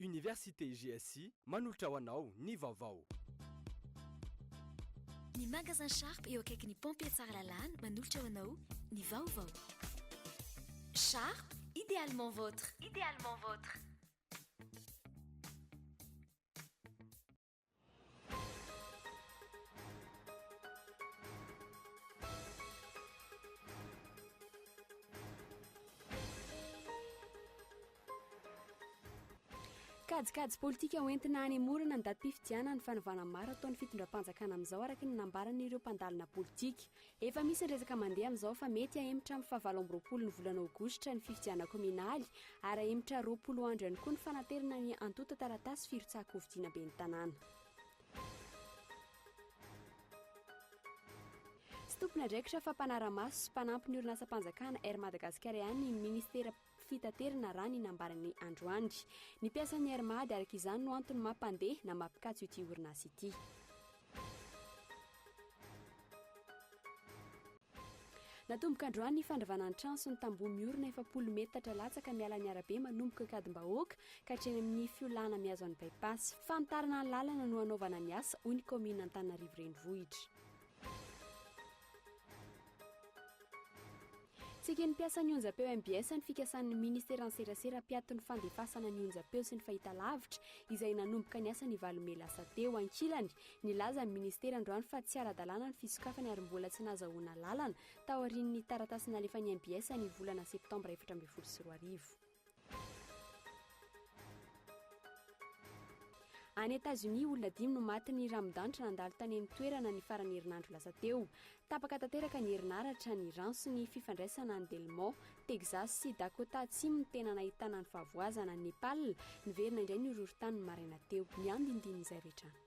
Université GSI manolotra ho anao ny vaovao. Ny Magasin Sharp eo akaikin'ny Pompiers Tsaralalàna manolotra ho anao ny vaovao. Sharp, idéalement votre. Idéalement votre. Kajikajy politika ho entina hanemorana ny datim-pifidianana ny fanovana maro ataon'ny fitondram-panjakana amin'izao araka ny nambaran'ireo mpandalina politika. Efa misy ny resaka mandeha amin'izao fa mety hahemotra amin'ny fahavalo amby roapolo ny volana aogositra ny fifidianana kaominaly ary hahemotra roapolo andro ihany koa ny fanaterana ny antontan-taratasy firotsahan-kofidiana ben'ny tanàna. Tsy tompon'andraikitra fa mpanara-maso sy mpanampy ny orinasam-panjakana Air Madagasikara ihany ny minisitera fitaterana raha ny nambaran'ny androany ny mpiasan'ny Air Mad araka izany no antony maha mpandeha na maha mpikatso ity orinasa ity. Natomboka androany ny fandravana ny trano sy ny tamboho miorina efapolo metatra latsaka miala ny arabe manomboka Ankadimbahoaka ka hatreny amin'ny fiolahana mihazo an'i Bypass. Fanitarana ny lalana no hanaovana ny asa, hoy ny kaominina Antananarivo Renivohitra. Tsy eken'ny mpiasan'ny onjampeo mbs ny fikasan'ny Ministeran'ny Serasera mpiato ny fandefasana ny onjampeo sy ny fahitalavitra izay nanomboka ny asa ny valo mey lasa teo. Ankilany, nilaza ny Ministera androany fa tsy ara-dalàna ny fisokafany ary mbola tsy nahazahoana alalana taorian'ny taratasy nalefan'ny mbs ny volana septambra efatra ambin'ny folo sy roa arivo. Any Etazonia, olona dimy no maty ny ranodanitra nandalo tany amin'ny toerana ny faran'ny herinandro lasa teo. Tapaka tanteraka ny herinaratra, ny rano sy ny fifandraisana any Del Monte, Texas sy Dakota Atsimo no tena nahitana ny fahavoazana. Any Nepal, niverina indray ny horohorontany ny maraina teo. Ny andinindin'izay rehetra any.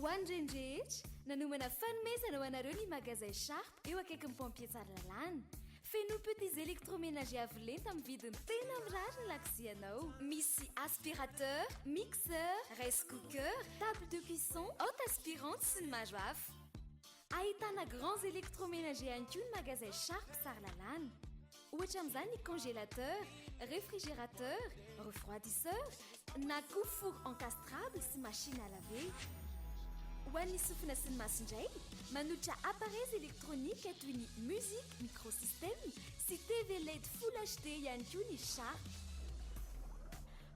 Ho an'ireny rehetra, nanomana fanomezana ho anareo ny Magasin Sharp eo akaikin'ny Pompier Tsaralalàna. Fenoy petits électroménagers avo lenta amin'ny vidiny tena mirary ny lakozianao. Misy aspirateur, mixeur, rice cooker, table de cuisson, haute aspirante sy ny maro hafa. Ahitana grands électroménagers ihany koa ny magasin Sharp Tsaralalàna. Ohatra amin'izany ny congélateur, réfrigérateur, refroidisseur na koa four encastrable sy machine à laver. Ho an'ny sofina sy ny maso indray, manolotra appareils électroniques toy ny musique microsystème sy TV led full HD ihany koa ny Sharp.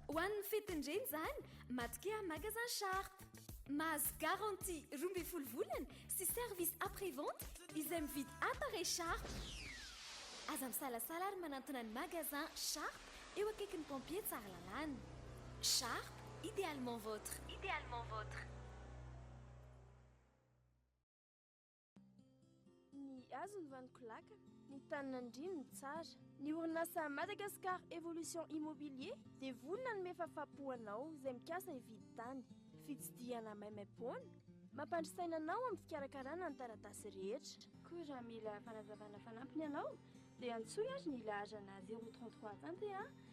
Ho an'ny fetin'ny reny izany, matokia Magasin Sharp. Mahazo garantie roa ambin'ny folo volana sy service après vente izay mividy appareil Sharp. Aza misalasala ary manantona ny magasin Sharp eo akaikin'ny pompier Tsaralalàna. Sharp, idéalement votre. Idéalement votre. Ny hazo ny vaniko laka, ny tany nandriany ny tsara. Ny orinasa Madagascar Evolution Immobilier dia vonona hanome fafapo ho anao izay mikasa hividy tany. Fitsidihana maimaimpoana, mampandry saina anao amin'ny fikarakarana ny taratasy rehetra. Koa raha mila fanazavana fanampiny ianao dia antsoy ary ny laharana zéro trente trois Tantehà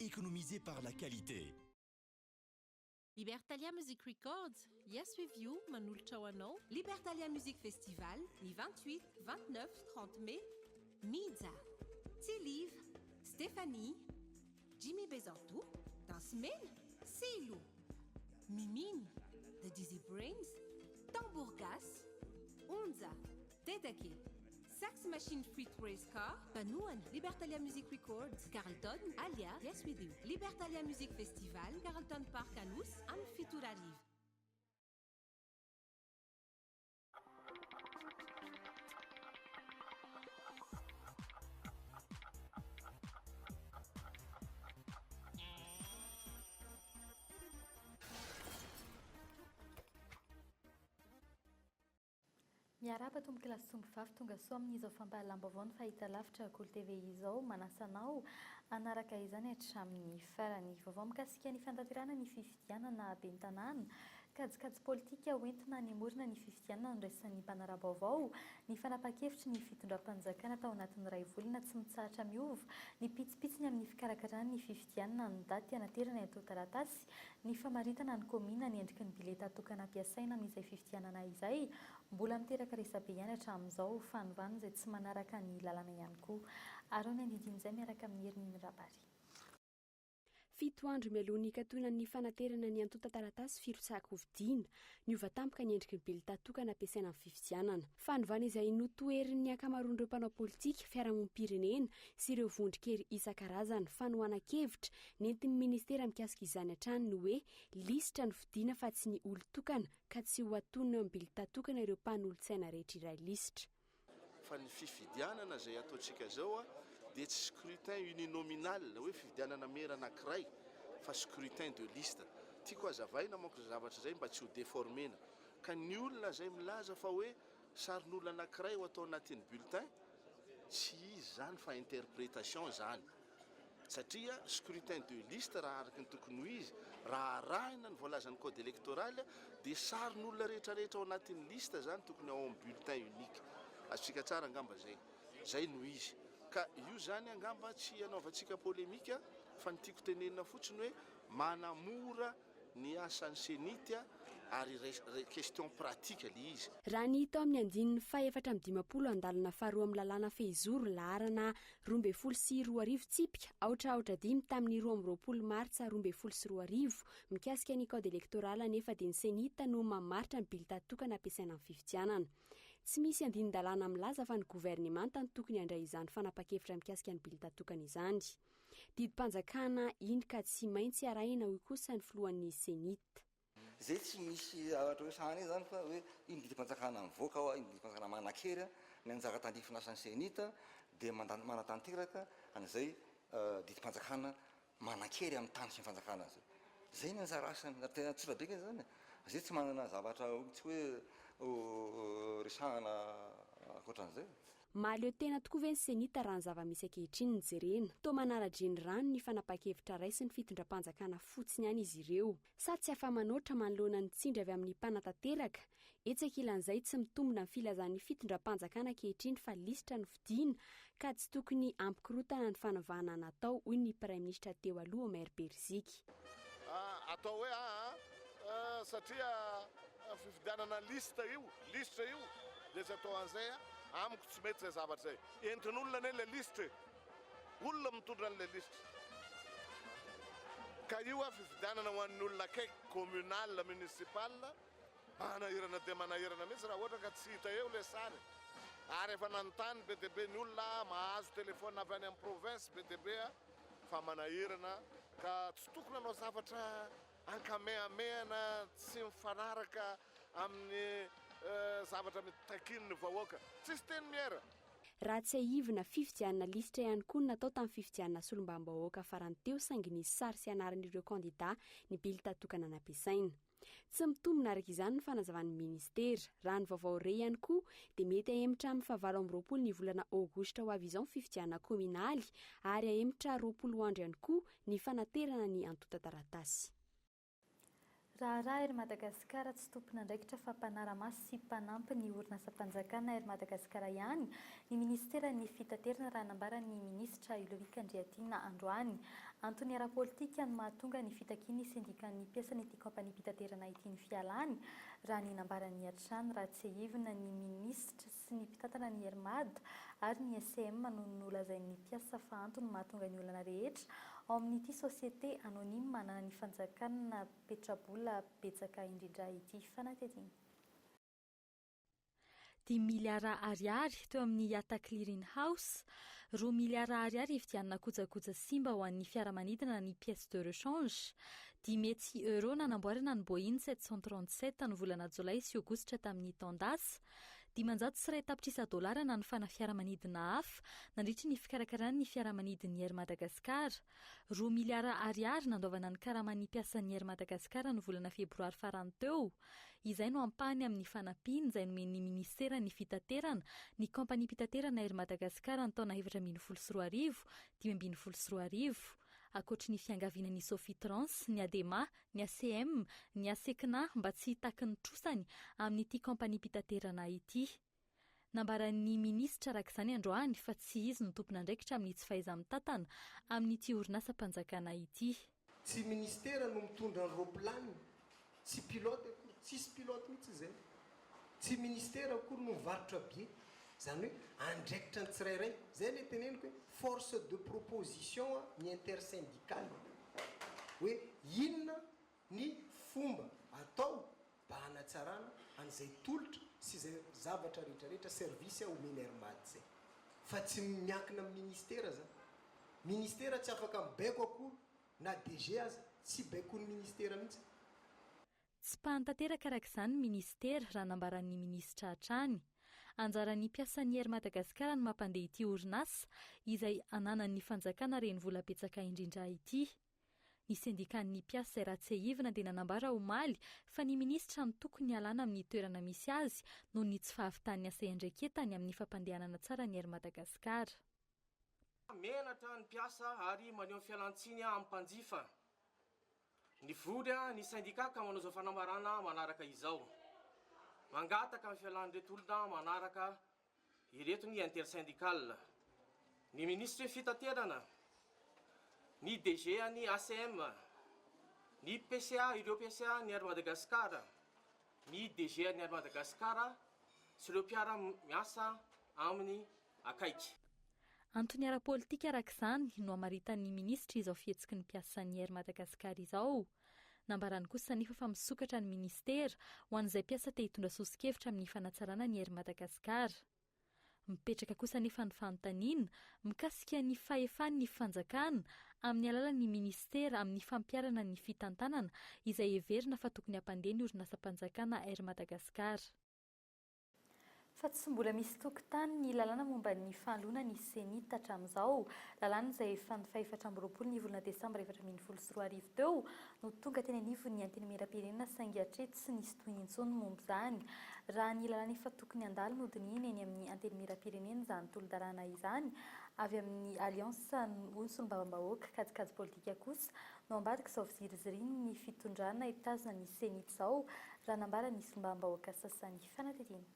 Economisez par la qualité. Libertalia Music Records, Yes With You manolotra ho anao. Libertalia Music Festival ny vingt huit, vingt neuf, trente mai, Mija, Tsy Live, Stephanie, Jimmy Bezanto, Dansy Mena, Silo, Miminy, The Dizzy Brains, Tambour Gasy, Onja, Dedeke, Sax Machine feat Race Car, Mpanohana, Libertalia Music Records, Carlton, Alia, Yes We Do, Libertalia Music Festival, Carlton Park Anosy, amin'ny fito ora hariva. Miarahaba tompoko Lasy Sombivafy tonga soa amin'izao fampahalam-baovao ny fahitalavitra Kolo TV izao manasa anao hanaraka izany hatramin'ny farany. Vaovao mikasika ny fantanterahana ny fifidianana ben'ny tanàna, kajikajy politika ho entina hanemorina ny fifidianana noraisin'ny mpanara-baovao ny fanapahan-kevitry ny fitondram-panjakana tao anatin'ny iray volana tsy mitsahatra miova ny pitsipitsiny amin'ny fikarakarana ny fifidianana ny daty hanaterana eto Taratasy Ny famaritana ny kaominina ny endriky ny bileta tokana ampiasaina amin'izay fifidianana izay, mbola miteraka resabe ihany hatramin'izao, fanovana izay tsy manaraka ny lalana ihany koa. Araho ny andindin'izay miaraka amin'i Hermie Mirabary. Fito andro mialoha ny hikatonan'ny fanaterana ny antontan-taratasy firotsahan-kofidiana, niova tampoka ny endriky ny bileta tokana ampiasaina amin'ny fifidianana. Fanovana izay notoherin'ny ankamaroan'ireo mpanao politika, fiarahamonim-pirenena sy ireo vondron-kery isan-karazany. Fanohanan-kevitra nentin'ny minisitera mikasika izany hatrany ny hoe lisitra no fidina fa tsy ny olon-tokana ka tsy ho atonina amin'ny bilta tokana ireo mpanolotsaina rehetra iray lisitra. Fa ny fifidianana izay ataontsika izao dia tsy scrutin uninominal na hoe fifidianana mera anankiray fa scrutin de liste. Tiako hazavaina manko izay zavatra izay mba tsy ho deformer-na. Ka ny olona izay milaza fa hoe sarin'olona anankiray ho atao anatin'ny bulletin, tsy izy izany fa interprétation izany. Satria scrutin de liste raha araka ny tokony ho izy, raha arahina ny voalazan'ny code électoral, dia sarin'olona rehetrarehetra ao anatin'ny liste izany tokony ao amin'ny bulletin unique. Azontsika tsara angamba izay. Izay no izy. Ka io izany angamba tsy hanaovantsika polemique fa ny tiako tenenina fotsiny hoe manamora ny asan'ny Cenit ary question pratique le izy. Raha ny hita ao amin'ny andininy fahefatra amby dimampolo andalana faharoa amin'ny lalàna fehizoro laharana roa ambin'ny folo sy roa arivo tsipika aotra aotra dimy tamin'ny roa amby roapolo martsa roa ambin'ny folo sy roa arivo mikasika ny kaody elektoraly anefa dia ny Cenit no mamaritra ny bilita tokana ampiasaina amin'ny fifidianana. Tsy misy andinin-dalàna milaza fa ny governemanta no tokony handray izany fanapan-kevitra mikasika ny bilita tokana izany. Didim-panjakana iny ka tsy maintsy arahina hoy kosa ny filohan'ny Cenit. Izay tsy misy zavatra hoe sahaniny izany fa hoe iny didim-panjakana mivoaka ao, iny didim-panjakana manan-kery ny anjara tandrify lasan'ny Cenit dia mandany manatanteraka an'izay didim-panjakana manan-kery amin'ny tany sy ny fanjakana azy. Izay ny anjara asany ary tena tsotra be ange izany e! Izay tsy manana zavatra mihitsy hoe ho resahana ankoatran'izay. Mahaleo tena tokoa ve ny Cenit raha ny zava-misy ankehitriny no jerena? Toa manara-dre ny rano ny fanapahan-kevitra raisin'ny fitondram-panjakana fotsiny ihany izy ireo. Sa tsy afa-manoatra manoloana ny tsindry avy amin'ny mpanatanteraka? Etsy ankilan'izay tsy mitombina ny filazan'ny fitondram-panjakana ankehitriny fa lisitra no fidina ka tsy tokony hampikorontana ny fanovana natao, hoy ny praiminisitra teo aloha Omer Beriziky. atao hoe aa satria fifidianana liste io listre io dia tsy atao an'izay a, amiko tsy mety izay zavatra izay, entin'olona anie ilay lisitra e, olona mitondra an'ilay lisitra ka io a fifidianana ho an'ny olona akaiky communal, municipal, manahirana dia manahirana mihitsy raha ohatra ka tsy hita eo ilay sary e, ary efa nanontany be dia be ny olona mahazo téléphone avy any amin'ny province be dia be a. fa manaherana ka tsy tokony hanao zavatra ankamehamehana tsy mifanaraka amin'ny zavatra mitakian'ny vahoaka. Tsisy teny miera. Raha tsiahivina, fifidianana lisitra ihany koa no natao tamin'ny fifidianana solombavambahoaka farany teo saingy nisy sary sy anaran'ireo kandidà ny bilta tokana nampiasaina. Tsy mitombina araka izany ny fanazavan'ny minisitera. Raha ny vaovao re ihany koa dia mety hahemotra amin'ny fahavalo amby roapolo ny volana aogositra ho avy izao ny fifidianana kaominaly ary hahemotra roapolo andro ihany koa ny fanaterana ny antontan-taratasy. Raharaha Air Madagascar tsy tompon'andraikitra fa mpanara-maso sy mpanampy ny orinasam-panjakana Air Madagascar ihany Ny minisiteran'ny Fitaterana raha nambaran'ny minisitra Ludovic Andriatiana androany. Antony ara-politika no mahatonga ny fitakian'ny sendikan'ny mpiasan'ity kaompaniam-pitaterana ity ny fialany, raha ny nambarany hatrany, raha tsiahivina ny minisitra sy ny mpitantana ny Air Mad ary ny SCM no nolazain'ny mpiasa fa antony mahatonga ny olana rehetra ao amin'ity société anonyme ananan'ny fanjakana petrabola betsaka indrindra ity fanadihadiana. dimy miliara ariary teo amin'ny Yatta Clearing House, roa miliara ariary hividianana kojakoja simba ho an'ny fiaramanidina ny pièces de rechange, dimy hetsy euros nanamboarana ny Boeing sept cent trente-sept ny volana jolay sy aogositra tamin'ny taon-dasa, dimanjato sy iray tapitrisa dolara nanofana fiaramanidina hafa nandritra ny fikarakarana ny fiaramanidin'ny Air Madagascar, roa miliara ariary nandoavana ny karaman'ny mpiasan'ny Air Madagascar ny volana febroary farany teo, Izay no ampahany amin'ny fanampiana izay nomen'ny Minisiteran'ny Fitaterana ny Kaompaniam-pitaterana Air Madagascar ny taona efatra ambin'ny folo sy roa arivo, dimy ambin'ny folo sy roa arivo. Ankoatry ny fiangavianan'ny Sofitrans, ny Adema, ny ACM, ny Asecna mba tsy hitaky ny trosany amin'ity kaompaniam-pitaterana ity. Nambaran'ny minisitra araka izany androany fa tsy izy no tompon'andraikitra amin'ny tsy fahaiza-mitantana amin'ity orinasam-panjakana ity. Tsy minisitera no mitondra ny roaplaniny, tsy pilote akory, tsisy pilote mihitsy izay. Tsy minisitera akory no mivarotra bie. Izany hoe andraikitra ny tsirairay. Izay ilay teneniko hoe force de proposition ny intersyndicale. Hoe inona ny fomba atao mba hanatsarana an'izay tolotra sy izay zavatra rehetrarehetra, service, omeny Air Mad izay. Fa tsy miankina amin'ny Ministera izany. Ministera tsy afaka mibaiko akory, na DG aza, tsy baikoin'ny Ministera mihitsy. Tsy mpany tanteraka araka izany ny Ministera, raha nambaran'ny Minisitra hatrany. Anjaran'ny mpiasan'ny Air Madagascar ny mampandeha ity orinasa, izay ananan'ny Fanjakana renivola betsaka indrindra ity. Ny sendikan'ny mpiasa izay raha tsiahivina dia nanambara omaly fa ny minisitra no tokony hialana amin'ny toerana misy azy noho ny tsy fahavitan'ny asa iandraiketany amin'ny fampandehanana tsara ny Air Madagascar. Menatra ny mpiasa ary maneho ny fialantsiny amin'ny mpanjifa. Nivory ny sendika ka manao izao fanambarana manaraka izao. Mangataka ny fialan'ireto olona manaraka Ireto ny intersyndical, ny minisitry ny fitaterana, ny DG an'ny ACM, ny PCA, ireo PCA an'ny Air Madagascar, ny DG an'ny Air Madagascar sy ireo mpiara miasa aminy akaiky. Antony ara-politika araka izany no hamaritan'ny minisitra izao fihetsiky ny mpiasan'ny Air Madagascar izao. Nambarany kosa anefa fa misokatra ny minisitera ho an'izay mpiasa te hitondra soso-kevitra amin'ny fanatsarana ny Air Madagascar. Mipetraka kosa anefa ny fanontaniana mikasika ny fahefan'ny fanjakana amin'ny alalan'ny minisitera amin'ny fampiharana ny fitantanana izay heverina fa tokony hampandeha ny orinasam-panjakana Air Madagascar. fa tsy mbola misy tokontany ny lalàna momba ny fahaloana ny Cenit hatramin'izao. Lalàna izay efa ny fahefatra amby roapolo ny volana desambra efatra ambin'ny folo sy roa arivo teo no tonga teny anivon'ny Antenimierampirenena saingy hatreto tsy nisy tohiny intsony momba izany raha ny lalàna efa tokony handalo nodinihina eny amin'ny Antenimierampirenena izany tolodalàna izany avy amin'ny Alliance ho ny Solombavambahoaka kajikajy politika kosa No ambadik'izao fiziriziriany ny fitondrana hitazona ny Ceni izao, raha nambara ny sombam-bahoaka sasany. Fanadihadiana.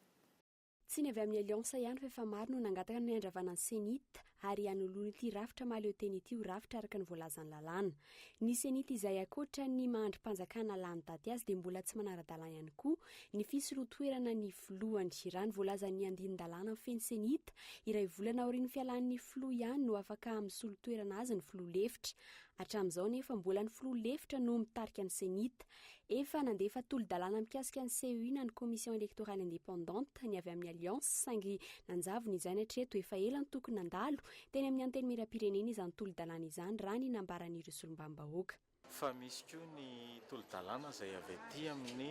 Tsy ny avy amin'ny Alliance ihany fa efa maro no nangataka ny handravana ny Cenit ary hanoloana ity rafitra mahaleotena ity ho rafitra araka ny voalazan'ny lalàna. Ny Cenit izay ankoatra ny maha-andrim-panjakana lany daty azy dia mbola tsy manara-dalàna ihany koa ny fisolotoerana ny filohany. Raha ny voalazan'ny andinin-dalàna mifehy ny Cenit, iray volana aorian'ny fialan'ny filoha ihany no afaka misolotoerana azy ny filoha lefitra. Hatramin'izao anefa mbola ny filoha lefitra no mitarika ny Cenit. Efa nandefa tolo-dalàna mikasika ny CEI na ny Commission Electorale Indépendante ny avy amin'ny Alliance saingy nanjavona izany hatreto efa ela no tokony nandalo teny amin'ny Antenimierampirenena izany tolo-dalàna izany raha ny nambaran'ireo solombavambahoaka. Fa misy koa ny tolo-dalàna izay avy aty amin'ny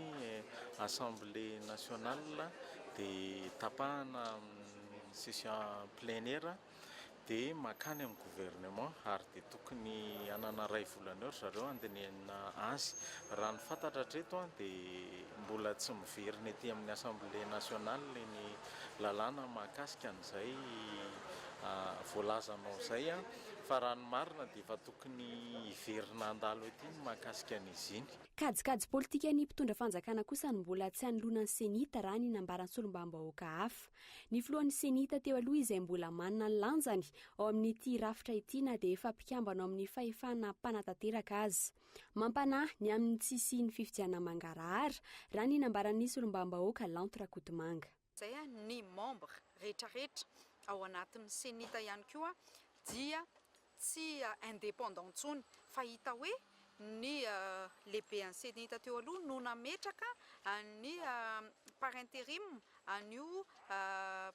Assemblée Nationale dia tapahana amin'ny session plénière dia makany amin'ny gouvernement ary dia tokony hanana iray volana eo ry zareo handinihana azy. Raha ny fantatra hatreto dia mbola tsy miverina ety amin'ny Assemblée nationale ny lalàna mahakasika an'izay voalazanao izay fa raha ny marina dia efa tokony hiverina handalo ety ny mahakasika an'izy iny. Kajikajy politikan'ny mpitondra fanjakana kosa no mbola tsy hanoloana ny Cenit raha ny nambaran'ny solombavambahoaka hafa. Ny filohan'ny Ceni tateo aloha izay mbola manana ny lanjany ao amin'ity rafitra ity na dia efa mpikambana ao amin'ny fahefana mpanatanteraka aza. Mampanahy ny amin'ny tsy hisian'ny fifidianana mangarahara, raha ny nambaran'ny solombavambahoaka Lanto Rakotomanga. Izay ny membres rehetrarehetra ao anatin'ny Ceni ta ihany koa dia tsy indépendant intsony fa hita hoe ny lehibean'ny Cenita teo aloha no nametraka an'i par interim an'io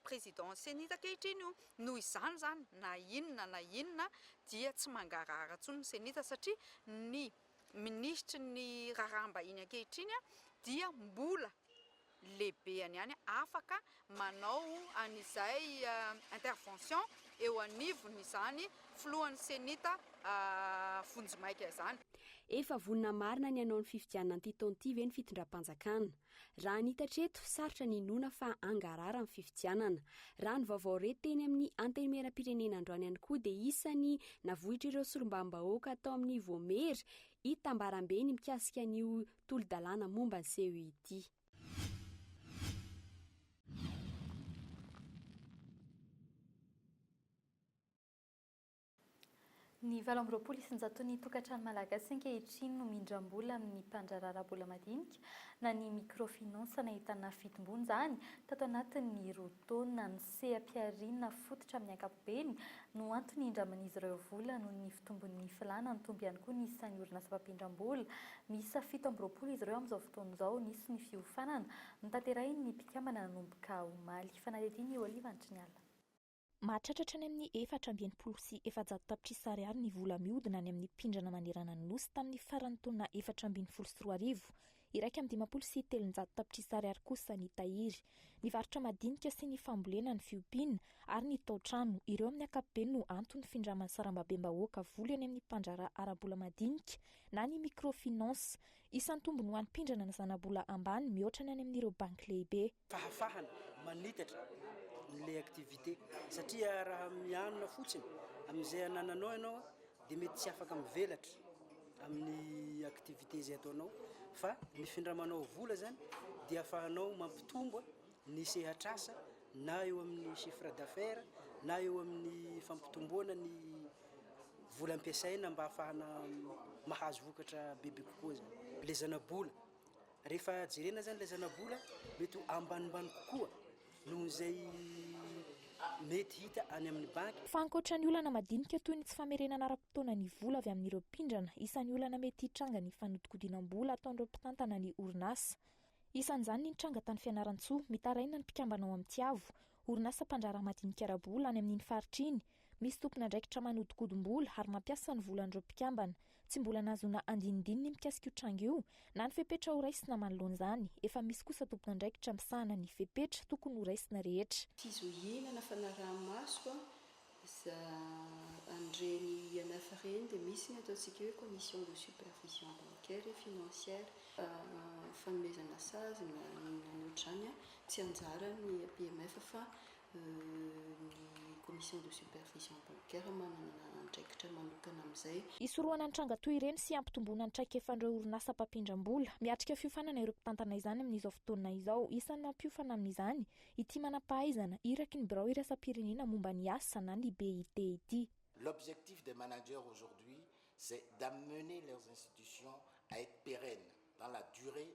président Cenita ankehitriny io, noho izany izany na inona na inona dia tsy mangarahara intsony ny Cenita satria ny minisitry ny raharaham-bahiny ankehitriny dia mbola lehibeany ihany afaka manao an'izay intervention eo anivon'izany filohan'ny Cenita vonjimaika izany. Efa vonona marina ny hanao ny fifidianana an'ity taona ity ve ny fitondram-panjakana? Raha ny hita hatreto, sarotra ny hinoana fa hangarahara ny fifidianana. Raha ny vaovao re teny amin'ny Antenimierampirenena androany ihany koa dia isan'ny navoitr'ireo solombavambahoaka tao amin'ny Voamery itambarambeny mikasika an'io tolo-dalàna momba ny CEIT. Ny valo amby roapolo isanjaton'ny tokantrano malagasy ankehitriny no mindram-bola amin'ny mpandraraharaha bola madinika na ny microfinance nahitana fitomboana izany tato anatin'ny roa taona. Seha-pihariana fototra amin'ny ankapobeny no antony indraman'izy ireo vola noho ny fitombon'ny filàna, nitombo ihany koa ny isan'ny orinasa mpampindram-bola. Miisa fito amby roapolo izy ireo amin'izao fotoana izao. Nisy ny fiofanana notanterahin'ny mpikambana nanomboka omaly. Fanadihadian'i Olive Antriniala. Mahatratra hatrany amin'ny efatra amby enimpolo sy efajato tapitrisa ariary ny vola mihodina any amin'ny mpindrana manerana ny Nosy tamin'ny faran'ny taona efatra ambin'ny folo sy roa arivo. Iraika amby dimampolo sy telonjato tapitrisa ariary kosa ny tahiry. Ny varotra madinika sy ny fambolena, ny fiompiana ary ny taotrano, ireo amin'ny ankapobeny no anton'ny findraman'ny sarambabem-bahoaka vola eny amin'ny mpandraharaha ara-bola madinika na ny microfinance. Isan'ny tombony ho an'ny mpindrana ny zanabola ambany mihoatra ny any amin'ireo banky lehibe. fahafahana manitatra ilay activité satria raha mianona fotsiny amin'izay anananao ianao dia mety tsy afaka mivelatra amin'ny activité izay ataonao fa ny findramanao vola zany dia afahanao mampitombo ny sehatrasa na eo amin'ny chiffre d'affaires na eo amin'ny fampitomboana ny vola ampiasaina mba afahana mahazo vokatra bebe kokoa zany le zana-bola Rehefa jerena zany ilay zanabola a, mety ho ambanimbany kokoa noho izay mety hita any amin'ny banky. Fa ankoatra ny olana madinika toy ny tsy famerenana ara-potoana ny vola avy amin'ireo mpindrana, isan'ny olana mety hitranga ny fanodikodinam-bola ataon'ireo mpitantana ny orinasa. Isan'izany ny nitranga tany Fianarantsoa, mitaraina ny mpikambana ao amin'ny Tiavo, orinasa mpandraharaha madinika ara-bola any amin'iny faritra iny. Misy tompon'andraikitra manodikodim-bola ary mampiasa ny volan'ireo mpikambana. Tsy mbola nahazoana andinindininy mikasika io tranga io na ny fepetra ho raisina manoloana izany. Efa misy kosa tompon'andraikitra misahana ny fepetra tokony ho raisina rehetra. Tsy zo hihinana fanaraha-maso an! Za an'ireny IMF ireny dia misy ny ataontsika hoe commission de supervision bancaire et financière. Fanomezana sazy na inona an'ohatr'izany an! Tsy anjaran'ny IMF fa Ny Commission de Supervision Bancaire manana andraikitra manokana amin'izay. Hisorohana ny tranga toy ireny sy hampitomboana ny traikefan'ireo orinasa mpampindram-bola. Miatrika fiofanana ireo mpitantana izany amin'izao fotoana izao. Isan'ny mampiofana amin'izany ity manam-pahaizana iraky ny birao iraisam-pirenena momba ny asa na ny BIT ity. L'objectif des managers aujourd'hui c'est d'amener leurs institutions à être pérennes dans la durée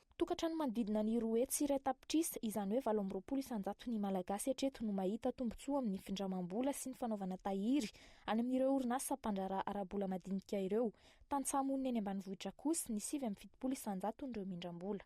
Tokantrano manodidina ny roa hetsy sy iray tapitrisa, izany hoe valo amby roapolo isan-jato ny Malagasy hatreto no mahita tombontsoa amin'ny findramam-bola sy ny fanaovana tahiry any amin'ireo orinasa mpandraharaha ara-bola madinika ireo. Tantsaha monina eny ambanivohitra kosa ny sivy amby fitopolo isan-jatony ireo mindram-bola.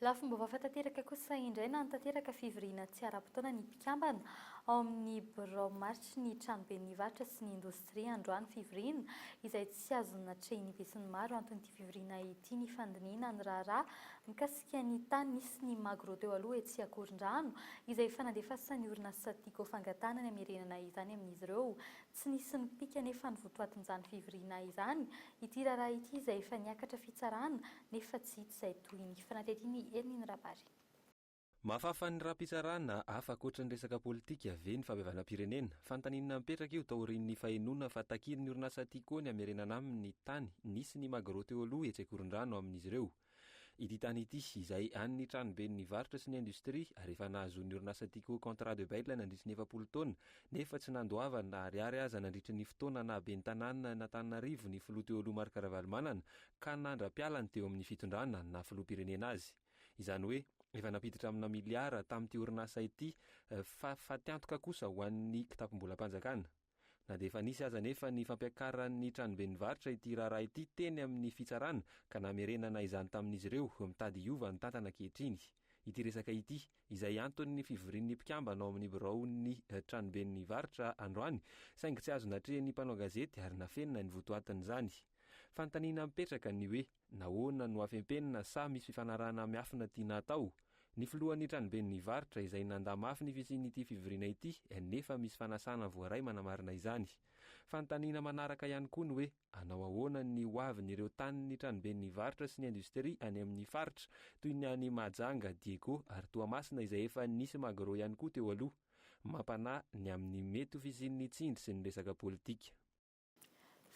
Lafim-baovao efa tanteraka kosa indray nanatanteraka fivoriana tsy ara-potoana ny mpikambana ao amin'ny birao maritry ny tranoben'ny varotra sy ny indostria androany fivoriana izay tsy azo natrehin'ny besinimaro anton'ity fivoriana ity ny fandinihina ny raharaha mikasika ny tany nisy ny magro teo aloha etsy Ankorondrano izay efa nandefasan'ny orinasa Tigo fangatahana ny hamerenana izany amin'izy ireo tsy nisy nipika anefa ny votoatin'izany fivoriana izany Ity raharaha ity izay efa niakatra fitsarana nefa tsy hita izay tohiny. Fanadihadian'i Hermine Rabary. Mahafafan'ny rapi-tsarana hafa ankoatra ny resaka politika ve ny fahabevanam-pirenena? Fanontaniana mipetraka io taorian'ny fahenoana fa takian'ny orinasa Tiko ny hamerenana aminy ny tany nisy ny Magro teo aloha etsy Ankorondrano amin'izy ireo. Ity tany ity, izay an'ny tranoben'ny varotra sy ny indostria ary efa nahazoan'ny orinasa Tiko contrat de bail nandritry ny efapolo taona nefa tsy nandoavany na ariary aza nandritry ny fotoana naha ben'ny tanànan'Antananarivo ny filoha teo aloha Marc Ravalomanana ka nandra-pialany teo amin'ny fitondrana naha filoham-pirenena azy. Izany hoe efa nampiditra amina miliara tamin'ity orinasa ity fa fatiantoka kosa ho an'ny kitapom-bolam-panjakana. Na dia efa nisy aza anefa ny fampiakaran'ny tranoben'ny varotra ity raharaha ity teny amin'ny fitsarana ka namerenana izany tamin'izy ireo, mitady hiova ny tantana ankehitriny ity resaka ity. Izay anton'ny fivorian'ny mpikambana ao amin'ny biraon'ny tranoben'ny varotra androany saingy tsy azo natrehin'ny mpanao gazety ary nafenina ny votoatin'izany fanontaniana mipetraka ny hoe. Nahoana no afempenina sa misy fifanarahana miafina tiana atao? Ny filohan'ny tranoben'ny varotra izay nandà mafy ny fisian'ity fivoriana ity nefa misy fanasana voaray manamarina izany. Fanontaniana manaraka ihany koa ny hoe hanao ahoana ny ho avin'ireo tanin'ny tranoben'ny varotra sy ny indostria any amin'ny faritra toy ny any Mahajanga, Diego ary Toamasina izay efa nisy Magro ihany koa teo aloha. Mampanahy ny amin'ny mety ho fisian'ny tsindry sy ny resaka politika.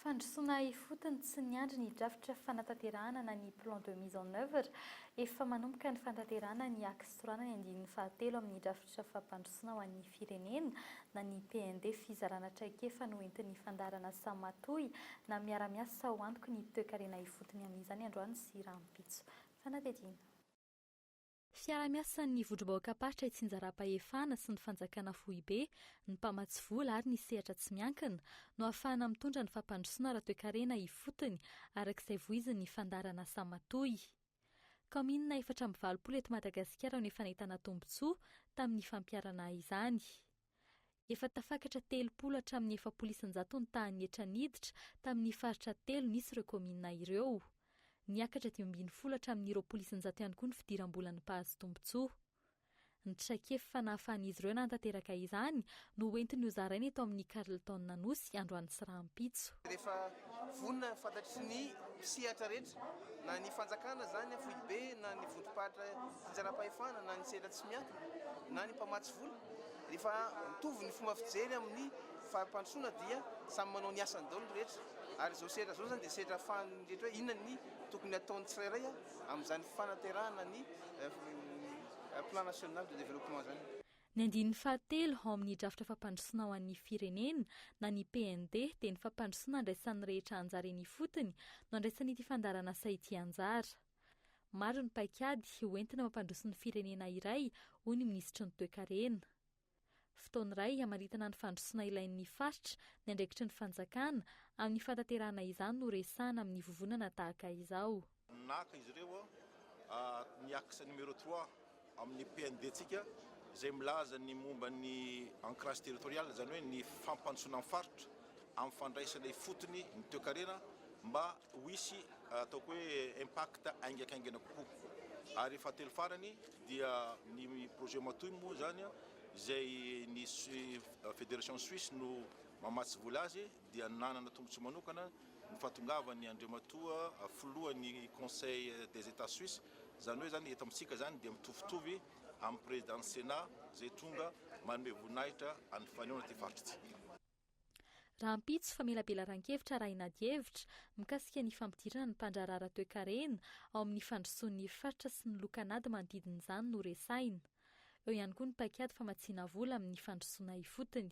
Fandrosoana ifotony tsy niandry ny drafitra fanatanterahana na ny plan de mise en œuvre. Efa manomboka ny fanatanterahana ny Axe Sorana ny andininy fahatelo amin'ny drafitra fampandrosoana ho an'ny firenena na ny PND fizarana traikefa noentin'ny fandaharanasa matoy na miara-miasa ho antoky ny toe-karena ifotony amin'izany androany sy rahampitso. Fanadihadiana. Fiaraha-miasan'ny Vondrom-bahoakam-paritra Itsinjaram-pahefana sy ny Fanjakana Foibe, ny mpamatsy vola ary ny sehatra tsy miankina no ahafahana mitondra ny fampandrosoana ara-toekarena ifotony araka izay voizin'ny fandaharan'asa matoy. Kaominina efatra amby valopolo eto Madagasikara no efa nahitana tombontsoa tamin'ny fampiharana izany. Efa tafakatra telopolo hatramin'ny efapolo isan-jato ny tahan'ny hetra niditra tamin'ny faritra telo nisy ireo kaominina ireo. Niakatra dimy ambin'ny folo hatramin'ny roapolo isan-jato ihany koa ny fidiram-bolan'ny mpahazo tombontsoa. Ny traikefa fanahafan'izy ireo nanatanteraka izany no hoentiny hozaraina eto amin'ny Carlton Anosy androany sy rahampitso. Vonona fantatry ny sehatra rehetra, na ny fanjakana izany an, foibe, na ny vondrom-paritra fitsaram-pahefana, na ny sehatra tsy miankina, na ny mpamatsy vola, rehefa mitovy ny fomba fijery amin'ny fari-pandrosoana dia samy manao ny asany daholo ny rehetra, ary izao sehatra izao izany dia sehatra ahafahan'ny rehetra hoe inona ny tokony hataon'ny tsirairay amin'izany fanaterahana ny Plan National de Développement izany. Ny andininy fahatelo ao amin'ny drafitra fampandrosoana ho an'ny firenena na ny PND dia ny fampandrosoana andraisan'ny rehetra anjara eny ifotony no andraisan'ity fandaharanasa ity anjara. Maro ny paikady ho entina mampandroso ny firenena iray, hoy ny minisitry ny Toekarena. Fotoana iray hamaritana ny fandrosoana ilain'ny faritra ny andraikitry ny fanjakana amin'ny fahatanterahana izany no resahana amin'ny vovonana tahaka izao. Naka izy ireo ny axe numéro trois amin'ny PND-ntsika izay milaza ny momba ny ancrage territorial, izany hoe ny fampandrosoana ny faritra amin'ny fandraisana ifotony ny toekarena mba ho hisy ataoko hoe impact haingakaingana kokoa. Ary fahatelo farany dia ny projet Matoy moa izany izay ny Federation Suisse no mamatsy vola azy dia nanana tombotsoa manokana ny fahatongavan'ny Andriamatoa filohan'ny Conseil des Etats Suisses, izany hoe izany eto amintsika izany dia mitovitovy amin'ny Président-n'ny Sénat izay tonga manome voninahitra an'ny fanehoana ity faritra ity. Rahampitso, famelabelaran-kevitra arahina adihevitra mikasika ny fampidirana ny mpandraharaha toekarena ao amin'ny fandrosoan'ny faritra sy ny lokan'ady manodidina izany no resahina. Eo ihany koa ny paikady famatsiana vola amin'ny fandrosoana ifotony.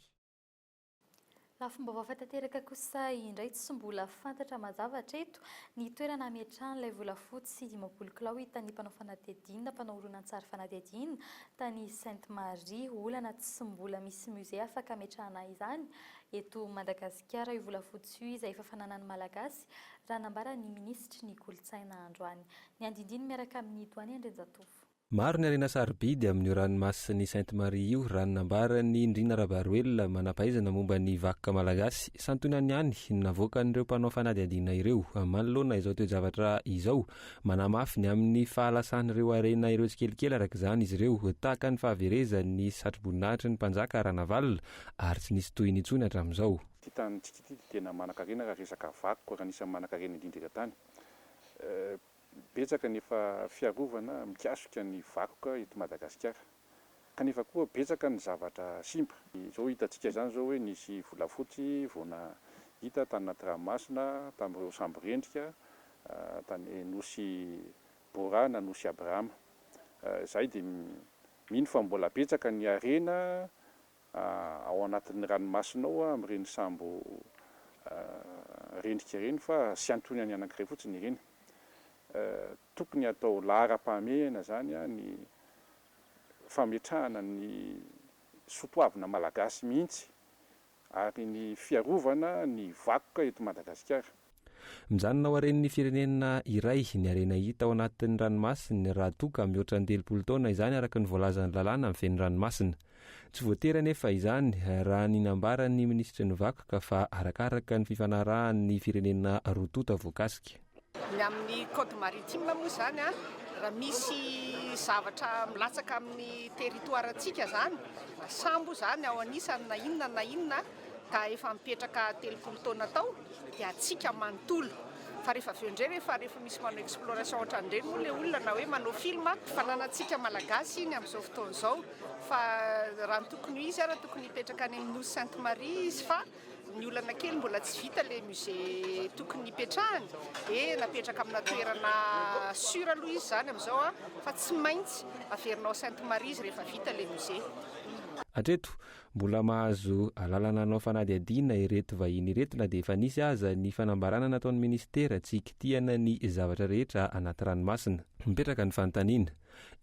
Lafim-baovao hafa tanteraka kosa indray tsy mbola fantatra mazava hatreto ny toerana hametrahan'ilay volafotsy dimampolo kilao hitan'ny mpanao fanadihadiana mpanao horonantsary fanadihadiana tany Sainte Marie. Olana tsy mbola misy musée afaka hametrahana izany eto Madagasikara io volafotsy io izay efa fananan'ny Malagasy raha nambaran'ny minisitry ny kolontsaina androany. Ny andindiny miaraka amin'i Doany Andrianjatovo. Maro ny harena sarobidy amin'io ranomasin'i Sainte Marie io, raha ny nambaran'i Ndrina Rabaroelina, manam-pahaizana momba ny vakoka malagasy. Santionany ihany no navoakan'ireo mpanao fanadihadiana ireo. Manoloana izao toe-javatra izao, manamafy ny amin'ny fahalasan'ireo harena ireo tsikelikely araka izany izy ireo, tahaka ny fahaverezan'ny satroboninahitry ny mpanjaka Ranavalona ary tsy nisy tohiny intsony hatramin'izao. Ity tanintsika ity dia tena manan-karena raha resaka vakoka, ary anisan'ny manan-karena indrindra eran-tany. Betsaka ny efa fiarovana mikasika ny vakoka eto Madagasikara kanefa koa betsaka ny zavatra simba. Izao hitantsika izany izao hoe nisy volafotsy vao nahita tany anaty ranomasina tamin'ireo sambo rendrika tany Nosy Bora na Nosy Abrahama. Izahay dia mino fa mbola betsaka ny harena ao anatin'ny ranomasina ao amin'ireny sambo rendrika ireny fa tsy antoiny any anankiray fotsiny ireny. Tokony hatao laharam-pahamehana izany ny fametrahana ny soatoavina malagasy mihitsy ary ny fiarovana ny vakoka eto Madagasikara. Mijanona ao haren'ny firenena iray ny harena hita ao anatin'ny ranomasiny raha toa ka mihoatra ny telopolo taona izany araka ny voalazan'ny lalàna mifehy ny ranomasina. Tsy voatery anefa izany raha ny nambaran'ny minisitry ny vakoka fa arakaraka ny fifanarahan'ny firenena roa tonta voakasika. Ny amin'ny code maritime moa izany raha misy zavatra milatsaka amin'ny territoire-ntsika izany, sambo izany ao anisany na inona na inona, ka efa mipetraka telopolo taona tao dia hatsiaka manontolo fa rehefa avy eo indray ve fa rehefa misy manao exploration ohatran'ireny moa ilay olona na hoe manao film fananantsika malagasy iny amin'izao fotoana izao fa raha ny tokony ho izy ary tokony hipetraka any amin'ny nosy sainte marie izy fa ny olana kely mbola tsy vita ilay musée tokony hipetrahany dia napetraka amina toerana sur aloha izy izany amin'izao a fa tsy maintsy averina ao sainte marie izy rehefa vita ilay musée Hatreto, Mbola mahazo alalana hanao fanadihadiana ireto vahiny ireto na dia efa nisy aza ny fanambarana nataon'ny minisitera tsy hikitihana ny zavatra rehetra anaty ranomasina. Mipetraka ny fanontaniana,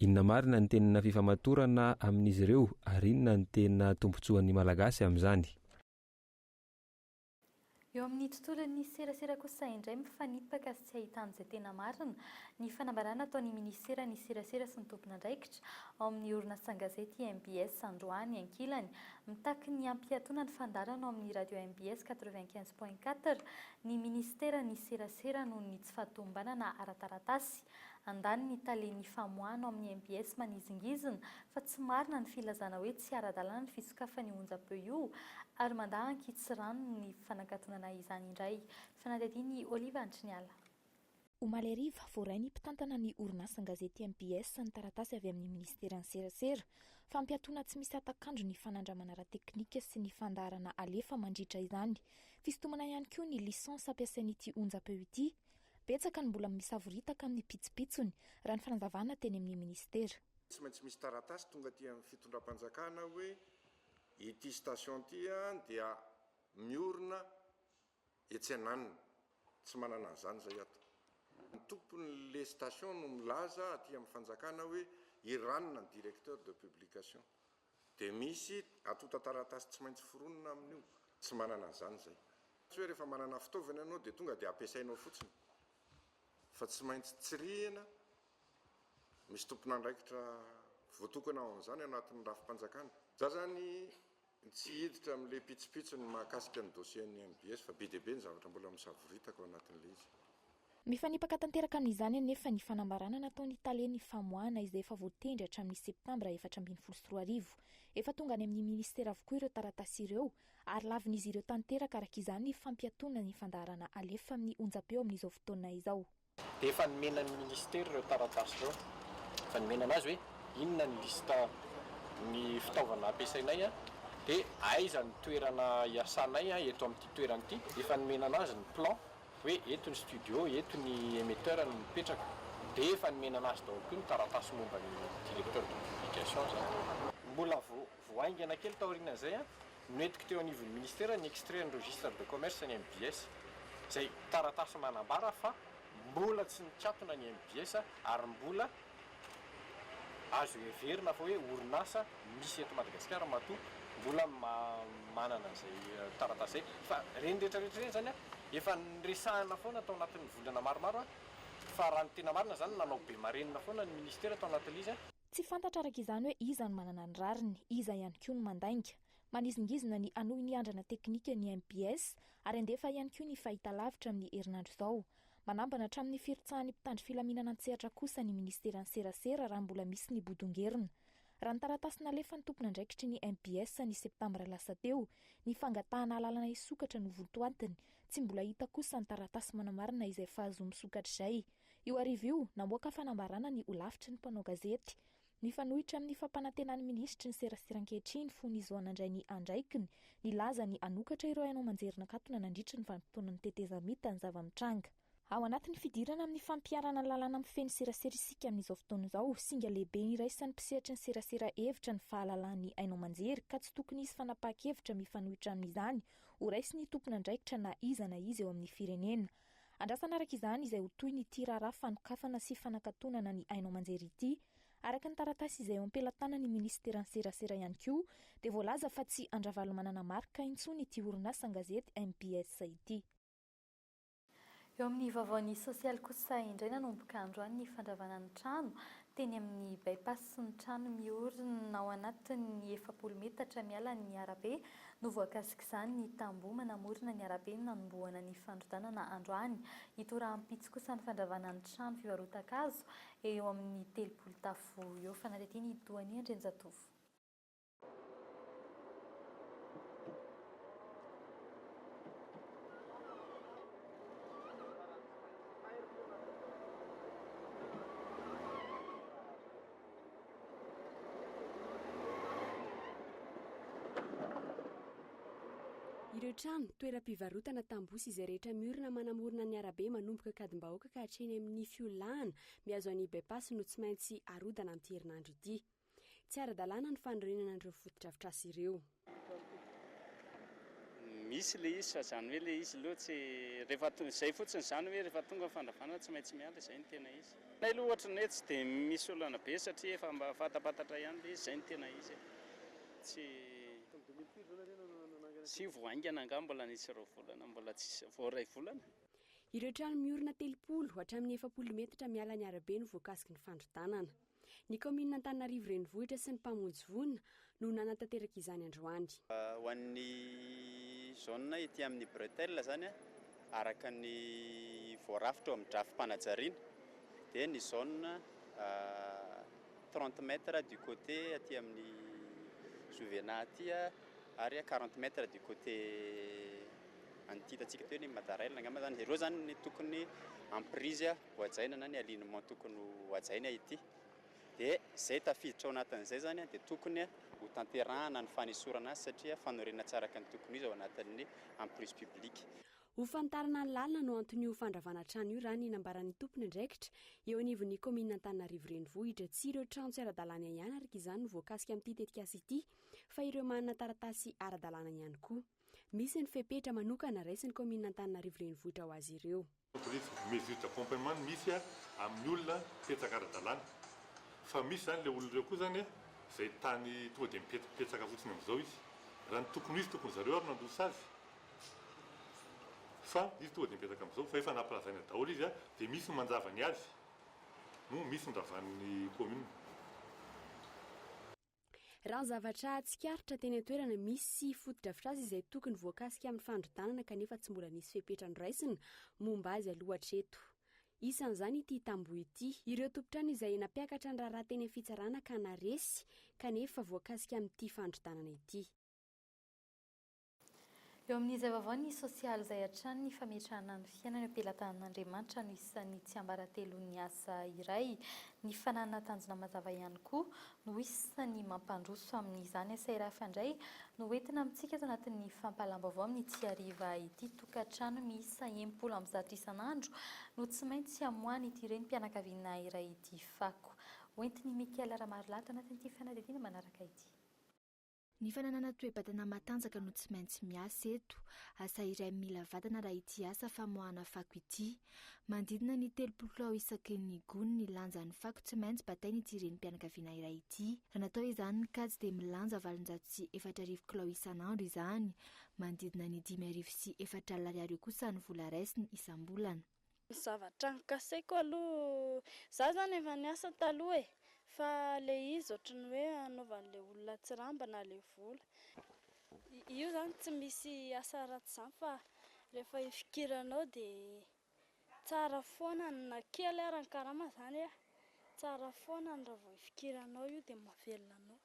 inona marina ny tena fifamatorana amin'izy ireo ary inona no tena tombontsoan'ny Malagasy amin'izany? Eo amin'ny tontolon'ny serasera kosa indray mifanipaka sy tsy ahitana izay tena marina ny fanambarana ataon'ny minisiteran'ny serasera sy ny tompon'andraikitra ao amin'ny orinasan-gazety mbs androany ankilany mitaky ny hampiatoana ny fandaharana ao amin'ny radio mbs quatre-vingt-quinze point quatre ny minisiteran'ny serasera noho ny tsy fahatomombanana ara-taratasy Handany ny talen'ny famoahana ao amin'ny mbs manizingizina fa tsy marina ny filazana hoe tsy ara-dalàna ny fisokafan'io onjam-peo io ary mandà an-kitsirano ny fanakatonana izany indray. Fanadihadian'i Olive Antriniala. Omaly hariva, voaray ny mpitantana ny orinasan-gazety mbs ny taratasy avy amin'ny minisiteran'ny serasera, fampiatoana tsy misy hatak'andro ny fanandramana ara-teknika sy ny fandaharana halefa mandritra izany. Fisintomana ihany koa ny lisansa ampiasain'ity onjam-peo ity. Betsaka ny mbola misavoritaka amin'ny pitsopitsony, raha ny fanazavana teny amin'ny minisitera. Tsy maintsy misy taratasy tonga aty amin'ny fitondram-panjakana hoe ity station ity dia miorina etsy ananona. Tsy manana an'izany izay ato. Ny tompon'ilay station no milaza aty amin'ny fanjakana hoe i Ranona ny directeur de publication. Dia misy antontan-taratasy tsy maintsy foronina amin'io. Tsy manana an'izany izay. Tsy hoe rehefa manana fitaovana ianao dia tonga dia ampiasainao fotsiny. Fa tsy maintsy tsirihina, misy tompon'andraikitra voatokana ho an'izany ao anatin'ny rafi-panjakana. Za izany tsy hiditra amin'ilay pitsopitsony mahakasika ny dossier an'ny mbs fa be dia be ny zavatra mbola misavoritaka ao anatin'ilay izy. Mifanipaka tanteraka amin'izany anefa ny fanambarana nataon'ny talen'ny famoahana izay efa voatendry hatramin'ny Septambra efatra ambin'ny folo sy roa arivo. Efa tonga any amin'ny Ministera avokoa ireo taratasy ireo ary lavin'izy ireo tanteraka araka izany ny fampiatoana ny fandaharana alefa amin'ny onjam-peo amin'izao fotoana izao. Efa nomena ny Ministera ireo taratasy ireo. Efa nomena an'azy hoe inona ny lista ny fitaovana ampiasainay dia aiza ny toerana iasanay eto amin'ity toerana ity. Efa nomena an'azy ny plan. hoe eto ny studio, eto ny emetteur no mipetraka dia efa nomena anazy daholo koa ny taratasy momba ny directeur de publication zany. Mbola vao vao haingana kely taorian'izay no nentiko teo anivon'ny ministera ny extrait an'ny registre de commerce ny mbs, izay taratasy manambara fa mbola tsy nikatona ny mbs ary mbola Azo heverina fa hoe orinasa misy eto Madagasikara matoa mbola manana izay taratasy izay. Fa ireny rehetra rehetra ireny izany efa niresahana foana tao anatin'ny volana maromaro fa raha ny tena marina izany nanao be marenina foana ny ministera tao anatin'ilay izy. Tsy fantatra araka izany hoe iza no manana ny rariny, iza ihany koa no mandainga. Manizingizina ny hanohy ny andrana teknika ny MPS ary handefa ihany koa ny fahitalavitra amin'ny herinandro izao. Manambana hatramin'ny firotsahan'ny mpitandro filaminana an-tsehatra kosa ny Ministeran'ny Serasera raha mbola misy ny bodongerona. Raha ny taratasy nalefan'ny tompon'andraikitry ny mbs ny septambra lasa teo, ny fangatahana alalana hisokatra no vontoatiny. Tsy mbola hita kosa ny taratasy manamarina izay fahazoa misokatra izay. Io hariva io, namoaka fanambarana ny holafitry ny mpanao gazety. Mifanohitra amin'ny fampanantenan'ny minisitry ny serasera ankehitriny fony izy vao nandray ny andraikiny, nilaza ny hanokatra ireo haino aman-jerin-nakatona nandritra ny vanimpotoana ny tetezamita ny zava-mitranga. Ao anatin'ny fidirana amin'ny fampiharana lalàna mifehy ny serasera isika amin'izao fotoana izao, singa lehibe iraisan'ny mpisehatry ny serasera hevitra ny fahalalahan'ny haino aman-jery ka tsy tokony hisy fanapahan-kevitra mifanohitra amin'izany horaisin'ny tompon'andraikitra na iza na iza eo amin'ny firenena. Andrasana araka izany izay ho tohiny ity raharaha fanokafana sy fanakatonana ny haino aman-jery ity. Araka ny taratasy izay eo am-pelatanan'ny minisiteran'ny serasera ihany koa dia voalaza fa tsy an-dRavalomanana Marc intsony ity orinasa an-gazety mbs ity. Eo amin'ny vaovaon'ny sosialy kosa indray nanomboka androany ny fandravana ny trano Teny amin'ny By-pass sy ny trano miorina ao anatin'ny efapolo metatra miala ny arabe no voakasik'izany ny tamboho manamorona ny arabe nanombohana ny fandrodanana androany. Ito rahampitso kosa ny fandravana ny trano fivarotan-kazo eo amin'ny telopolo tafo eo. Fanadihadiana i Doanie Andrianjatovo. Ireo trano, toeram-pivarotana, tamboho sy izay rehetra miorina manamorona ny arabe manomboka Ankadimbahoaka ka hatreny amin'ny fiolahana mihazo an'i By-pass no tsy maintsy arodana amin'ity herinandro ity. Tsy ara-dalàna ny fanorenana an'ireo fotodrafitrasa ireo. Misy ilay izy fa izany hoe ilay izy aloha tsy, rehefa to, izay fotsiny izany hoe rehefa tonga ny fandravana tsy maintsy miala, izay no tena izy. Aminay aloha ohatran'ny hoe tsy dia misy olana be satria efa mba fantampantatra ihany ilay izy, izay no tena izy e. Tsy, tsy vao haingana angaha mbola nisy ireo volana, mbola tsisy, vao iray volana? Ireo trano miorina telopolo hatramin'ny efapolo metatra miala ny arabe no voakasiky ny fandrodanana. Ny kaominina Antananarivo Renivohitra sy ny mpamonjy voina no nanatanteraka izany androany. Ho an'ny zone ety amin'ny bretelle izany, araka ny voarafitra eo amin'ny drafi-panajariana, dia ny zone trente mètres du côté aty amin'ny Juvena aty ary quarante mètres du côté an'ity hitantsika eto hoe ny Madarel angamba izany, ireo izany no tokony hampirise. ho hajaina na ny alignement tokony ho hajaina ity dia izay tafiditra ao anatin'izay izany dia tokony ho tanterahana ny fanesorana azy satria fanorenana tsy araka ny tokony ho izy ao anatin'ny emprise publique. Ho fanitarana ny lalina no anton'io fandravana trano io raha ny nambaran'ny tompon'andraikitra eo anivon'ny kaominina Antananarivo Renivohitra. Tsy ireo trano tsy ara-dalàna ihany araka izany no voakasika amin'ity tetikasa ity fa ireo manana taratasy ara-dalàna ihany koa. Misy ny fepetra manokana raisin'ny kaominina Antananarivo Renivohitra ho azy ireo. Haute risque de mesure d'accompagnement no misy amin'ny olona mipetraka ara-dalàna. Fa misy izany ilay olona ireo koa izany izay tany tonga dia mipetraka fotsiny amin'izao izy. Raha ny tokony ho izy, tokony zareo ary nandroso azy. Fa izy tonga dia mipetraka amin'izao, fa efa nampilazaina daholo izy dia misy ny manjava ny azy, no misy ny ravan'ny commune. Raha ny zavatra tsikaritra teny an-toerana, misy fotodrafitrasa izay tokony voakasika amin'ny fandrodanana kanefa tsy mbola nisy fepetra noraisina momba azy aloha hatreto. Isan'izany ity tamboho ity. Ireo tompon-trano izay nampiakatra ny raharaha teny amin'ny fitsarana ka naresy kanefa voakasika amin'ity fandrodanana ity. Eo amin'ny zava-vao ny sosialy izay hatrany ny fametrahana ny fiainana eo am-pelatanan'Andriamanitra no isan'ny tsiambaratelon'ny asa iray. Ny fananana tanjona mazava ihany koa no isan'ny mampandroso amin'izany. Asa iray hafa indray no entina amintsika eto anatin'ny fampahalam-baovao amin'ity hariva ity. Tokantrano miisa enimpolo amby zato isan'andro no tsy maintsy hamoahan'ity renim-pianakaviana iray ity fako. Hoentin'i Michael Ramarolahy ato anatin'ity fanadihadiana manaraka ity. Ny fananana toe-batana matanjaka no tsy maintsy miasa eto. Asa iray mila vatana raha ity asa famoahana fako ity. Manodidina ny telopolo kilao isaky ny gony ny lanjan'ny fako tsy maintsy batain'ity renim-pianakaviana iray ity. Raha natao izany ny kajy dia milanja valonjato sy efatra arivo kilao isan'andro izany. Manodidina ny dimy arivo sy efatra alina ariary eo kosa ny vola raisiny isam-bolana. Ny zavatra nikasaiko aloha, za zany efa niasa taloha e, fa le izy ohatran'ny hoe anaovan'le olona tsirambina le vola, io zany tsy misy asa ratsy zany fa rehefa ifikiranao de tsara foana na kely ara ny karama zany e, tsara foana raha vao ifikiranao io de mahavelona anao.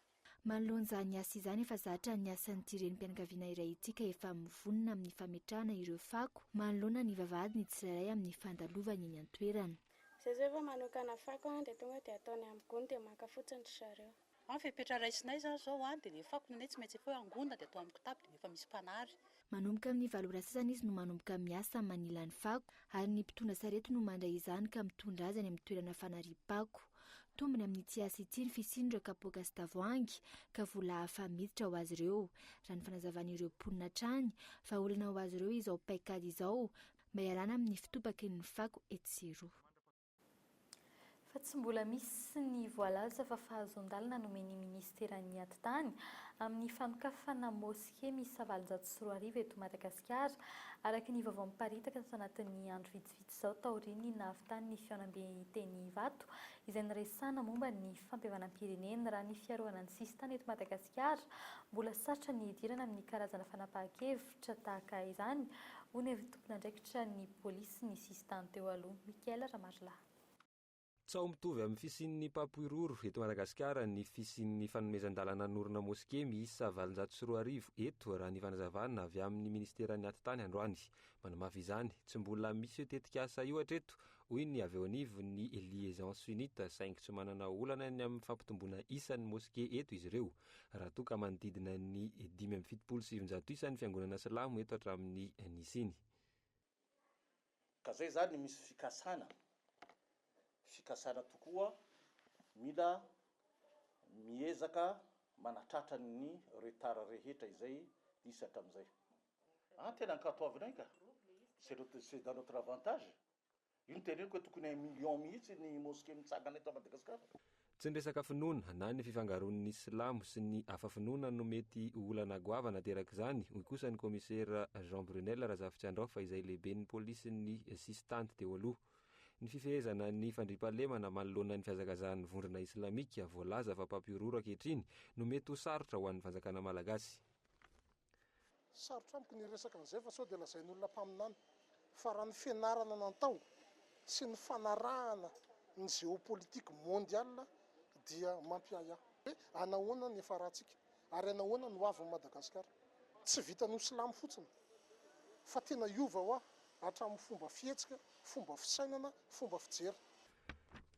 Manoloana izany asa izany efa zatra ny asan'ity renim-pianakaviana iray ity ka efa mivonona amin'ny fametrahana ireo fako manoloana ny vavahady ny tsirairay amin'ny fandalovany eny an-toerana. Izay izao efa manokana fako an, dia tonga dia ataony amin'ny gony dia maka fotsiny ry zareo. Ny fepetra raisinay izany izao an, dia ilay fako nenay tsy maintsy efa hoe angona dia atao amin'ny kitapo dia efa misy mpanary. Manomboka amin'ny valo ora sasany izy no manomboka miasa manila ny fako ary ny mpitondra sarety no mandray izany ka mitondra azy any amin'ny toerana fanariam-pako. Tombony amin'ny tsy asa ity ny fisian'ireo kapoaka sy tavoahangy ka vola hafa miditra ho azy ireo, raha ny fanazavan'ireo mponina hatrany, fa olana ho azy ireo izao paikady izao mba hialana amin'ny fitopaky ny fako etsy sy eroa. fa tsy mbola misy ny voalaza fa fahazoan-dalana nomen'ny minisiteran'ny Atitany amin'ny fanokafana moske miisa valonjato sy roa arivo eto Madagasikara, araka ny vaovao miparitaka tato anatin'ny andro vitsivitsy izao taorian'ny nahavitany ny fihaonambe teny Ivato izay niresahana momba ny fampihavanam-pirenena. Raha ny fiarovana ny sisintany eto Madagasikara, mbola sarotra ny hidirana amin'ny karazana fanapahan-kevitra. Hevitra tahaka izany, hono ery tompon'andraikitra ny polisy ny sisintany teo aloha, Michael Ramarilahy. Tsaho mitovy amin'ny fisian'ny mpampihorohoro eto Madagasikara ny fisian'ny fanomezan-dalana hanorina moske miisa valonjato sy roa arivo eto, raha ny fanazavana avy amin'ny Ministeran'ny Atitany androany. Manamafy izany, tsy mbola misy io tetikasa io hatreto, hoy ny avy eo anivon'ny Liaison Sunnite, saingy tsy manana olana ny amin'ny fampitomboana isan'ny moske eto izy ireo. raha toa ka manodidina ny dimy amby fitopolo sy sivinjato isa ny fiangonana silamo eto hatramin'ny nisiany. Ka zay zany misy fikasana, fikasana tokoa mila miezaka manatratra ny retard rehetra izay nisy hatramin'izay. Ah tena ankatoavinay ka, c'est notre c'est dans notre avantage. Io teneniko hoe tokony un million mihitsy ny mosquée mitsangana eto Madagascar. Tsy ny resaka finoana na ny fifangaroan'ny silamo sy ny hafa finoana no mety ho olana goavana aterak'izany, hoy kosa ny kaomisera Jean Brunel Razafitsiandraofa izay lehiben'ny polisin'ny sisin-tany teo aloha. Ny fifehezana ny fandriampahalemana manoloana ny fihazakazahan'ny vondrona islamika voalaza fa mpampihorohoro ankehitriny no mety ho sarotra ho an'ny fanjakana malagasy. Sarotra amiko ny hiresaka an'izay fa sao dia lazain'olona mpaminany fa raha ny fianarana natao sy ny fanarahana ny géopolitique mondiale dia mampiahiahy. Hoe anahoana ny efa ratsika ary anahoana ny ho avin'i Madagasikara. Tsy vitan'ny ho silamo fotsiny fa tena hiova hoa hatramin'ny fomba fihetsika, fomba fisainana, fomba fijery.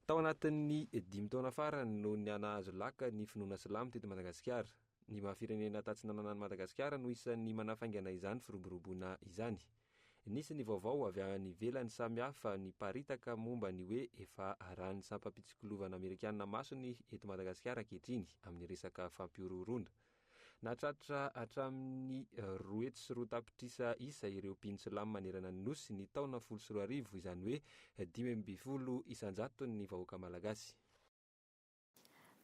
Tao anatin'ny dimy taona farany no niha-nahazo laka ny finoana silamo teto Madagasikara. Ny maha firenena tatsinanana an'i Madagasikara no isan'ny manafaingana izany firoboroboana izany. Nisy ny vaovao avy any ivelany samihafa niparitaka momba ny hoe efa arahin'ny sampam-pitsikilovana amerikanina maso ny eto Madagasikara ankehitriny amin'ny resaka fampihorohoroana. Nahatratra hatramin'ny roa hetsy sy roa tapitrisa isa ireo mpino silamo manerana ny Nosy ny taona folo sy roa arivo, izany hoe dimy ambin'ny folo isan-jaton'ny vahoaka malagasy.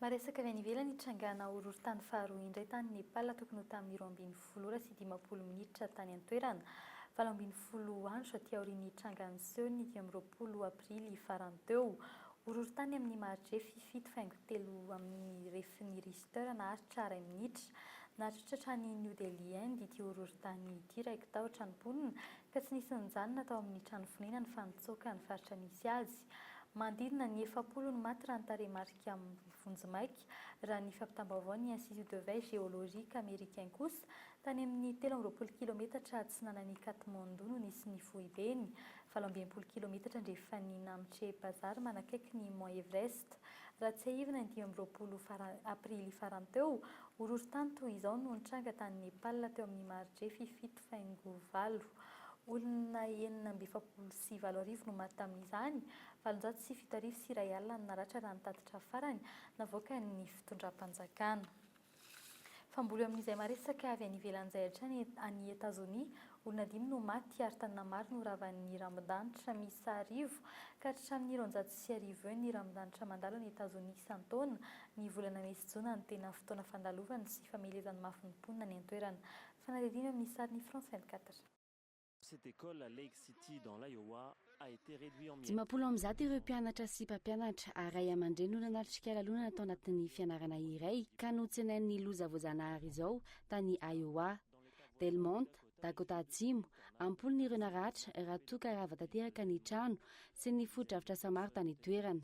Maresaka avy any ivelany hitrangana horohorontany faharoa indray tany Nepal tokony ho tamin'ny roa ambin'ny folo ora sy dimampolo minitra tany an-toerana, valo ambin'ny folo andro aty aorian'ny nitrangan'ny seho ny dimy amby roapolo aprily farany teo. Horohorontany amin'ny maridrefy fito faingo telo amin'ny refin'ny Richter naharitra iray minitra. Nahatritra hatrany New Delhi, Inde ity horohorontany ity, raiki-tahotra ny mponina ka tsy nisy nijanona tao amin'ny trano fonenany fa nitsoaka ny faritra nisy azy. Manodidina ny efapolo ny maty raha ny tarehimarika vonjimaika, raha ny fampitam-baovao ny Institut de Veille Géologique Américain kosa. Tany amin'ny telo amby roapolo kilometatra atsinanan'i Katmandou no nisy ny foibeny, valo amby enimpolo kilometatra andrefan'i Namche Bazaar manakaiky ny Mont Everest. Raha tsiahivina, ny dimy amby roapolo Aprily farany teo, horohorontany toy izao no nitranga tany Nepal teo amin'ny maridrefy fito faingo valo olona enina amby efapolo sy valo arivo no maty tamin'izany, valonjato sy fito arivo sy iray alina no naratra raha ny tatitra farany navoakan'ny fitondram-panjakana. Famboly eo amin'izay maresaka avy any ivelany izay hatrany any Etazonia, olona dimy no maty ary tanàna maro no ravan'ny rambon-danitra miisa arivo ka hatramin'ny roanjato sy arivo eo ny rambon-danitra mandalo any Etazonia isan-taona, ny volana mey sy jona no tena fotoana fandalovany sy famelezany mafy ny mponina any an-toerana. Fanadihadiana eo amin'ny sariny France vingt-quatre. Cette école, Lake City, dans l'Iowa, a été réduit en miettes. Dimampolo amby zato ireo mpianatra sy mpampianatra ary ray aman-dreny no nanatrika lalonana tao anatin'ny fianarana iray ka notsenain'ny loza voajanahary izao tany Iowa. Del Monte, Dakota Atsimo, am-polony ireo naratra raha toa ka rava tanteraka ny trano sy ny fotodrafitrasa maro tany an-toerana.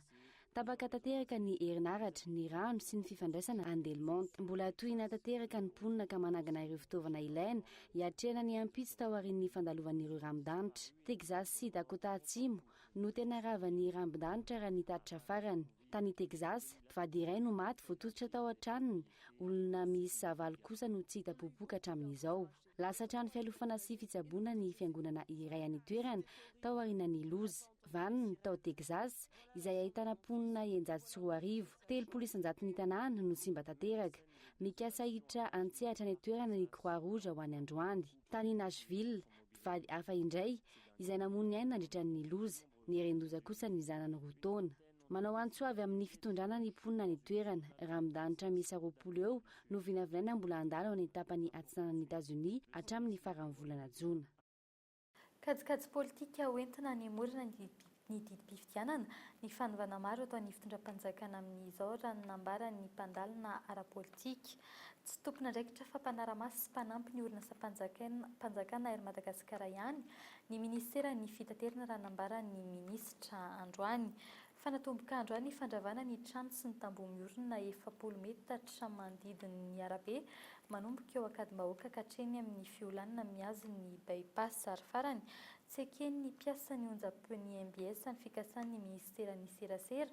Tapaka tanteraka ny herinaratra, ny rano sy ny fifandraisana any Delmonte. Mbola tohina tanteraka ny mponina ka manangana ireo fitaovana ilaina hiatrehana ny ampitso taorian'ny fandalovan'ireo rambondanitra. Texas sy Dakota Atsimo no tena ravan'ny rambondanitra raha ny tatitra farany. Tany Texas, mpivady iray no maty voatototra tao an-tranony, olona miisa valo kosa no tsy hita popoka hatramin'izao. Lasa trano fialofana sy fitsaboana ny fiangonana iray any an-toerana tao aorianan'ny loza. Vann, tao Texas, izay ahitana mponina eninjato sy roa arivo. Telopolo isan-jaton'ny tanàna no simba tanteraka. Mikasa hiditra an-tsehatra any an-toerana ny Croix Rouge ho any androany. Tany Nashville, mpivady hafa indray, izay namoy ny ainy nandritra ny loza. Nieren-doza kosa ny zanany roa taona. Manao antso avy amin'ny fitondrana ny mponina any an-toerana, raha midanitra miisa roapolo eo no vinavinaina mbola handalo any an-tapany atsinanan'i Etazonia hatramin'ny faran'ny volana jona. Kajikajy politika ho entina hanemorana ny didim-pifidianana ny fanovana maro ataon'ny fitondram-panjakana amin'izao raha ny nambaran'ny mpandalina ara-politika, tsy tompon'andraikitra fa mpanara-maso sy mpanampy ny orinasam-panjakana Air Madagascar ihany Ny minisiteran'ny fitaterana raha nambaran'ny minisitra androany, fa natomboka androany ny fandravana ny trano sy ny tamboho miorina efapolo metatra manodidina ny arabe manomboka eo Ankadimbahoaka ka hatreny amin'ny fiolanana mihazo ny By-pass ary farany tsy eken'ny mpiasan'ny onjampeon'ny mbs ny fikasan'ny minisiteran'ny serasera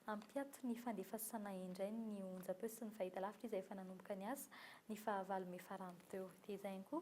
hampiato ny fandefasana indray ny onjampeo sy ny fahitalavitra izay efa nanomboka niasa ny fahavalo mey farany teo. Dia izay ihany koa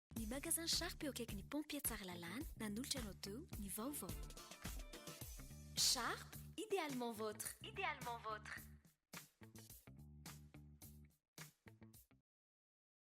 Ny Magasin Sharp eo akaikin'ny Pompier Tsaralalàna, nanolotra anao teo ny vaovao. Sharp, idéalement votre. Idéalement votre.